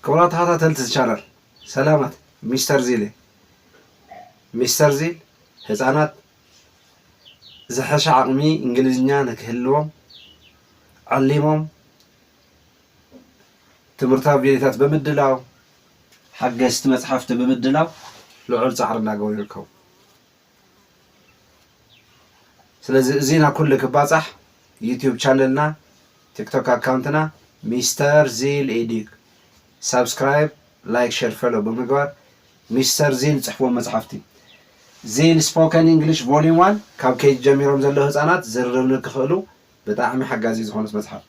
ክቡራት ተኻታተልቲ እዚ ቻናል ሰላማት ሚስተር ዚል እየ ሚስተር ዚል ህጻናት ዝሐሸ ዓቅሚ እንግሊዝኛ ንክህልዎም ዐሊሞም ትምህርታዊ ቪድዮታት ብምድላው ሐገዝቲ መጽሐፍቲ ብምድላው ልዑል ጻዕሪ እናገበሩ ይርከቡ። ስለዚ እዚ ናብ ኩሉ ክባጻሕ ዩቱብ ቻነልና ቲክቶክ ኣካውንትና ሚስተር ዚል ኤዲግ ሳብስክራይብ ላይክ ሸር ፈሎ ብምግባር ሚስተር ዚል ጽሕፍዎ መጽሓፍቲ ዚል ስፖከን እንግሊሽ ቮሊዩም ዋን ካብ ኬጅ ጀሚሮም ዘለዉ ህጻናት ዝርርብ ንክኽእሉ ብጣዕሚ ሓጋዚ ዝኾነት መጽሓፍ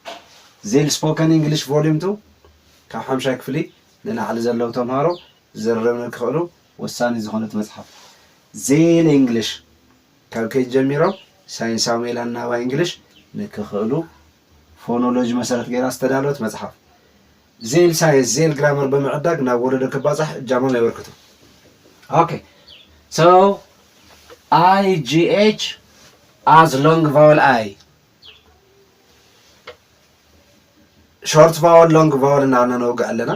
ዚል ስፖከን እንግሊሽ ቮሊዩም ቱ ካብ ሓምሻይ ክፍሊ ንላዕሊ ዘለዉ ተምሃሮ ዝርርብ ንክኽእሉ ወሳኒ ዝኾነት መጽሓፍ ዜል እንግሊሽ ካብ ኬጅ ጀሚሮም ሳይንሳዊ ሜላ ኣናባቢ እንግሊሽ ንክኽእሉ ፎኖሎጂ መሰረት ገይራ ዝተዳለወት መጽሓፍ ዜል ሳይንስ ዜል ግራመር ብምዕዳግ ናብ ወለዶ ክባጻሕ እጃሞም የበርክቱ። ኦኬ ሶ ኣይ ጂ ኤች ኣዝ ሎንግ ቫወል ኣይ ሾርት ቫወል ሎንግ ቫወል እናበልና ነውግዕ ኣለና።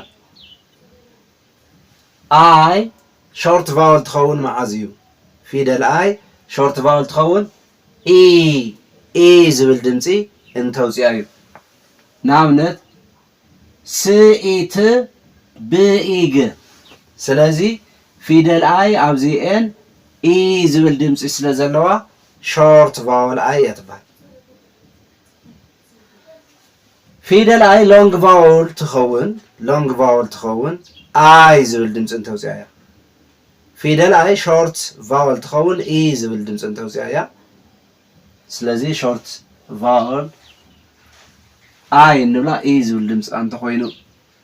ኣይ ሾርት ቫወል ትኸውን መዓዝ እዩ ፊደል ኣይ ሾርት ቫወል ትኸውን ኢ ኢይ ዝብል ድምጺ እንተውጽኣ እዩ ንኣብነት ስ ኢ ት ብ ኢ ግ ስለዚ ፊደል ኣይ ኣብዚ ኤን ኢይ ዝብል ድምጺ ስለ ዘለዋ ሾርት ቫወል ኣይ እያ ትበሃል። ፊደል ኣይ ሎንግ ቫውል ትኸውን ሎንግ ቫውል ትኸውን ኣይ ዝብል ድምፂ እንተውፅኣ እያ ፊደል ኣይ ሾርት ቫውል ትኸውን ኢ ዝብል ድምፂ እንተውፅኣ እያ ስለዚ ሾርት ቫውል ኣይ እንብላ ኢ ዝብል ድምፂ እንተኮይኑ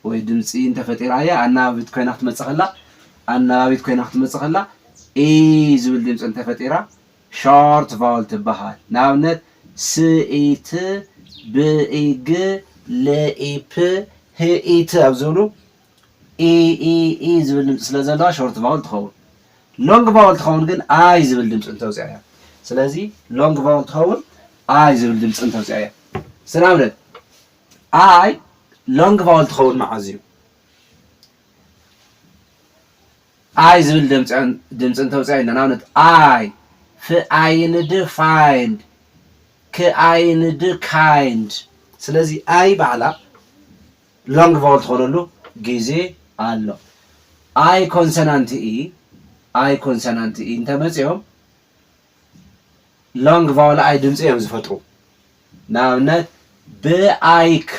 ወይ ድምፂ እንተፈጢራ እያ ኣናባቢት ኮይና ክትመፅእ ከላ ኣናባቢት ኮይና ክትመፅእ ከላ ኢ ዝብል ድምፂ እንተፈጢራ ሾርት ቫውል ትበሃል። ንኣብነት፣ ስኢት፣ ብኢግ፣ ልኢፕ፣ ህኢት ኣብ ዝብሉ ኢኢኢ ዝብል ድምጺ ስለ ዘለዋ ሾርት ቫውል ትኸውን። ሎንግ ቫውል ትኸውን ግን ኣይ ዝብል ድምጺ እንተውጽኣ እያ። ስለዚ ሎንግ ቫውል ትኸውን ኣይ ዝብል ድምጺ እንተውጽኣ እያ። እስቲ ንኣብነት ኣይ ሎንግ ቫውል ትኸውን መዓዝ እዩ? ኣይ ዝብል ድምጺ እንተውጽኣ ኢልና ንኣብነት ኣይ፣ ፍኣይንድ፣ find፣ ክኣይንድ፣ kind፣ ስለዚ ኣይ ባዕላ ሎንግ ቫወል ትኾነሉ ግዜ ኣሎ። ኣይ ኮንሰናንት እይ፣ ኣይ ኮንሰናንት እይ እንተመጺኦም ሎንግ ቫወል ኣይ ድምፂ እዮም ዝፈጥሩ ንኣብነት ብኣይክ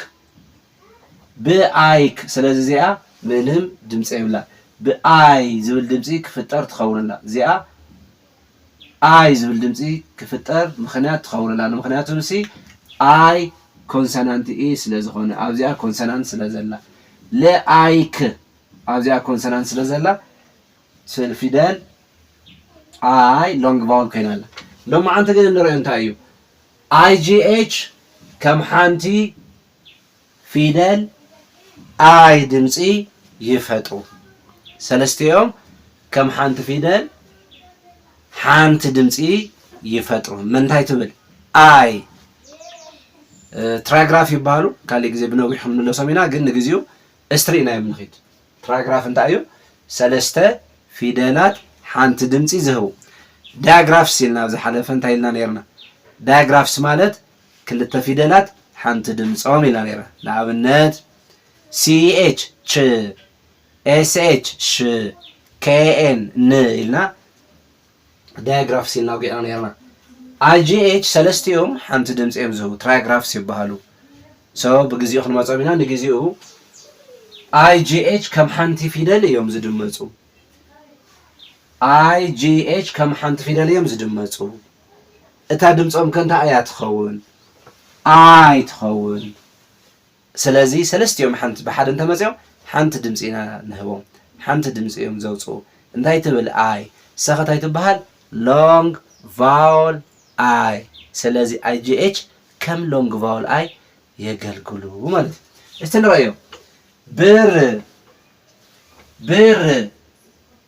ብኣይክ ስለዚ እዚኣ ምንም ድምፂ የብላ ብኣይ ዝብል ድምፂ ክፍጠር ትኸውንላ እዚኣ ኣይ ዝብል ድምፂ ክፍጠር ምክንያት ትኸውንላ ንምክንያቱ ንሲ ኣይ ኮንሰናንት ኢ ስለ ዝኾነ ኣብዚኣ ኮንሰናንት ስለ ዘላ ለኣይክ ኣብዚኣ ኮንሰናንት ስለ ዘላ ስእሊ ፊደል ኣይ ሎንግ ቫውል ኮይና ኣላ። ሎማዓንቲ ግን እንርእዮ እንታይ እዩ? IGH ከም ሓንቲ ፊደል ኣይ ድምጺ ይፈጥሩ። ሰለስቲኦም ከም ሓንቲ ፊደል ሓንቲ ድምጺ ይፈጥሩ። ምንታይ ትብል? ኣይ ትራግራፍ ይበሃሉ። ካልእ ግዜ ብነዊሑ ክንምለሶም ኢና፣ ግን ንግዚኡ እስትሪ ኢናዮም ንኺድ። ትራይግራፍ እንታይ እዩ? ሰለስተ ፊደላት ሓንቲ ድምጺ ዝህቡ። ዳያግራፍስ ኢልና ኣብ ዝሓለፈ እንታይ ኢልና ኔርና? ዳያግራፍስ ማለት ክልተ ፊደላት ሓንቲ ድምጾም ኢልና ኔርና። ንኣብነት CH ች፣ SH ሽ፣ KN ን ኢልና ዳያግራፍስ ኢልና ኣውጊዕና ኔርና። IGH ሰለስቲኦም ሓንቲ ድምጺ እዮም ዝህቡ፣ ትራያግራፍስ ይበሃሉ። So ብግዚኡ ክንመጾም ኢና፣ ንግዚኡ IGH ከም ሓንቲ ፊደል እዮም ዝድመጹ። IGH ከም ሓንቲ ፊደል እዮም ዝድመጹ። እታ ድምጾም ከ እንታይ እያ ትኸውን? I ትኸውን። ስለዚ ሰለስቲኦም ሓንቲ ብሓደ እንተመጺኦም ሓንቲ ድምጺ ኢና ንህቦም። ሓንቲ ድምጺ እዮም ዘውጽኡ። እንታይ ትብል ኣይ? ሰክት ኣይትበሃል long vowel i ስለዚ IGH ከም long vowel i የገልግሉ ማለት እዩ። እስቲ ንረኣዮም። ብር ብር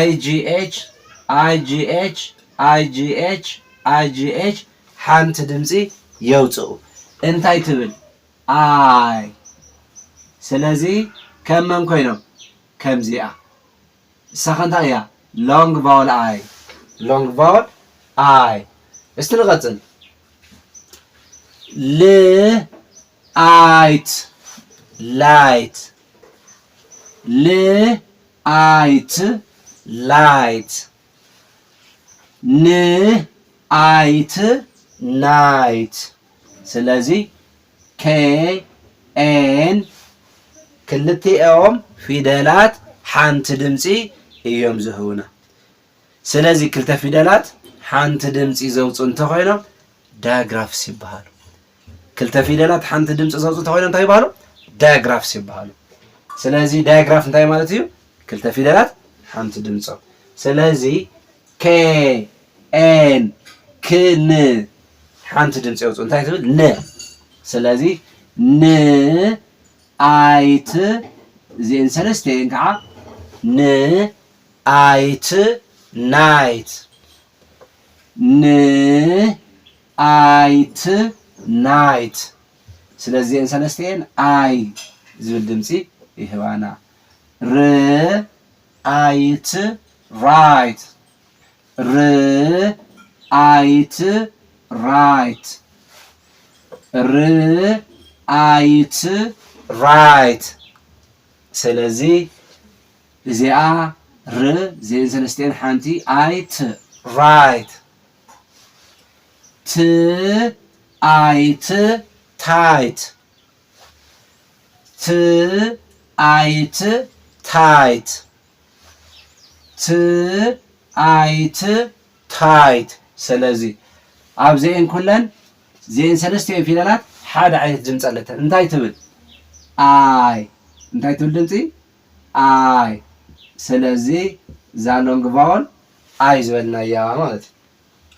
IGH IGH IGH IGH ሓንቲ ድምጺ የውጽኡ እንታይ ትብል ኣይ ስለዚ ከም መን ኮይኖም ከምዚኣ እሳከ እንታይ እያ long vowel ኣይ long vowel ኣይ እስቲ ንቀጽል ል ኣይት ላይት ል ኣይት ላይት ን ኣይት ናይት ስለዚ KN ክልቲኦም ፊደላት ሓንቲ ድምጺ እዮም ዝህቡና። ስለዚ ክልተ ፊደላት ሓንቲ ድምፂ ዘውፅኡ እንተኾይኖም ዳያግራፍስ ይበሃሉ። ክልተ ፊደላት ሓንቲ ድምፂ ዘውፅኡ እንተኾይኖም እንታይ ይበሃሉ? ዳያግራፍስ ይበሃሉ። ስለዚ ዳያግራፍ እንታይ ማለት እዩ? ክልተ ፊደላት ሓንቲ ድምፆም። ስለዚ ከ ኤን ክን ሓንቲ ድምፂ የውፅኡ እንታይ ትብል? ን ስለዚ ን ኣይት እዚአን ሰለስቲአን ከዓ ን ኣይት ናይት ን ኣይት ናይት ስለዚ እዚኤን ሰለስቲኤን ኣይ ዝብል ድምፂ ይህባና ር ኣይት ራይት ር ኣይት ራይት ር ኣይት ራይት ስለዚ እዚኣ ር ዜን ሰለስቲኤን ሓንቲ ኣይ ት ራይት ት ኣይ ት ታይት ት ኣይ ት ታይት ት ኣይ ት ታይት ሰለዚ ኣብዚኤን ኩለን ዜን ሰለስቲኤን ፊደላት ሓደ ዓይነት ድምፂ ኣለተን እንታይ ትብል ኣይ እንታይ ትብል ድምፂ ኣይ ስለዚ እዛ ሎንግ ቫወል ኣይ ዝበልናያ ማለት እዩ።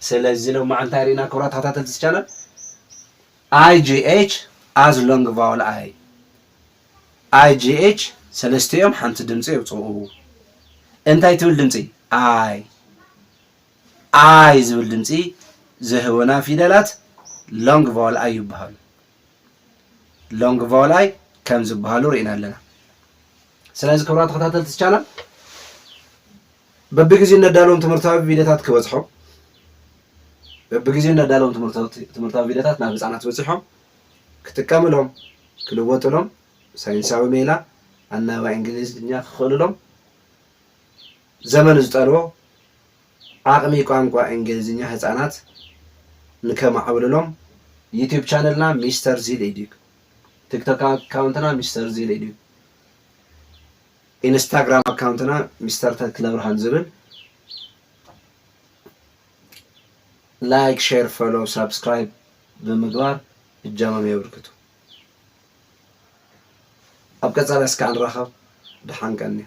ስለዚ ሎማዕ እንታይ ርኢና ክብራት ተኸታተልቲ እዚ ቻነል IGH as long vowel ኣይ IGH ሰለስቲኦም ሓንቲ ድምፂ የውፅኡ እንታይ ትብል ድምፂ ኣይ ኣይ ዝብል ድምፂ ዝህቡና ፊደላት ሎንግ ቫወል ኣይ ይበሃሉ። ሎንግ ቫውላይ ከም ዝበሃሉ ርኢና ኣለና። ስለዚ ክብራ ተኸታተልቲ ቻናል በብግዜኡ እነዳለዎም ትምህርታዊ ቪድዮታት ክበፅሖም በብግዜኡ እነዳለዎም ትምህርታዊ ቪድዮታት ናብ ህፃናት በፂሖም ክጥቀምሎም ክልወጥሎም ሳይንሳዊ ሜላ ኣናባ እንግሊዝኛ ክኽእልሎም ዘመን ዝጠልቦ ዓቕሚ ቋንቋ እንግሊዝኛ ህጻናት ንከማዕብልሎም ዩቱብ ቻነልና ሚስተር ዚል ኤዲዩ፣ ቲክቶክ ኣካውንትና ሚስተር ዚል ኤዲዩ፣ ኢንስታግራም ኣካውንትና ሚስተር ተክለብርሃን ዝብል ላይክ ሼር ፎሎው ሳብስክራይብ ብምግባር እጃሞም የብርክቱ። ኣብ ቀጻሊ እስከ ንራኸብ ደሓን ቀንዩ።